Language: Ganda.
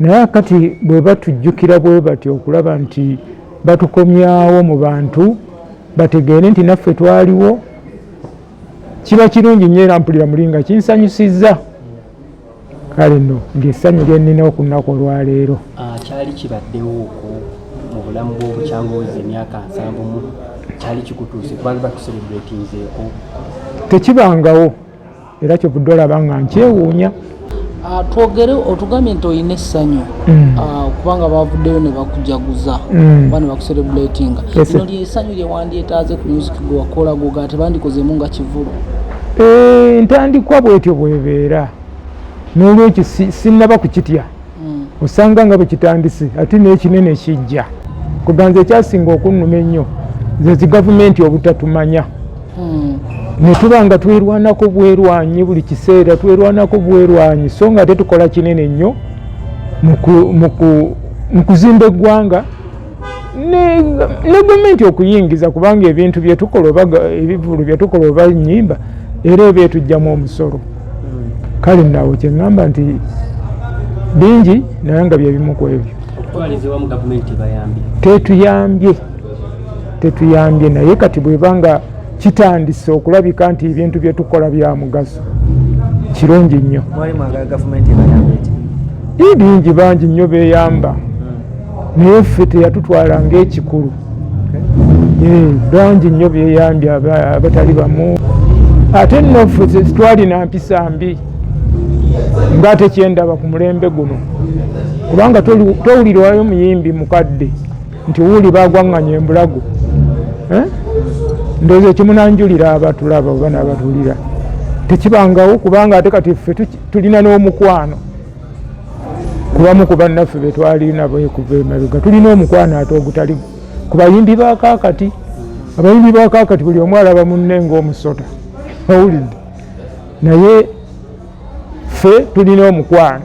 naye akati bwe batujjukira bwe batyo okulaba nti batukomyawo mu bantu bategeere nti naffe twaliwo kiba kirungi nyo era mpulira muli nga kinsanyusizza kale no ngaessanyu lyenina okunaku olwaleero ah, kyali kibaddewo oku mu bulamu bwobukyangozi emyaka nsanvumu kyali kikutuuse kubanga batuserebratinzeeko tekibangawo era kyovudde olaba nga nkyewuunya ah, twogere otugambye nti olina essanyu mm. ah, kubanga bavuddeyo ne bakujaguza mm. oba ne bakuserebulatinga lino lyessanyu lye wandyetaaze ku music gwe wakola goga ate bandikozeemu nga kivulu eh, ntandikwa bwetyo bwebeera n'olwekyo sinnaba kukitya mm. osanga nga bwekitandise ate nekinene kijja kuganza ekyasinga okunnuma ennyo zezi gavumenti obutatumanya mm. netuba nga twerwanako bwerwanyi buli kiseera twerwanako bwerwanyi so nga ate tukola kinene nnyo mu kuzimba eggwanga ne gavumenti okuyingiza kubanga ebintu byetukola oba ebivulu byetukola oba nyimba era eba etugjamu omusolo kale nawo kyeŋamba nti bingi naye nga byebimu ku ebyo tetuyambye tetuyambye naye kati bweba nga kitandise okulabika nti ebintu byetukola bya mugaso kirungi nnyo bingi bangi nnyo beyamba naye ffe teyatutwala ngaekikulu eh, bangi nnyo byeyambye abatali bamu ate nno ffe tetwalina mpisa mbi nga ate kyendaba ku mulembe guno kubanga towulirwayo muyimbi mukadde nti wuuli bagwanganya embulago eh? ndowooza ekimunanjulira abatulaba oba nabatulira tekibangawo kubanga ate kati ffe tulina n'omukwano kubamu ku bannaffe be twali nabo ekuva emabega tulina omukwano ate ogutali ku bayimbi ba kaakati abayimbi ba kaakati buli omu alaba munne ng'omusota owulidde naye ffe tulina omukwano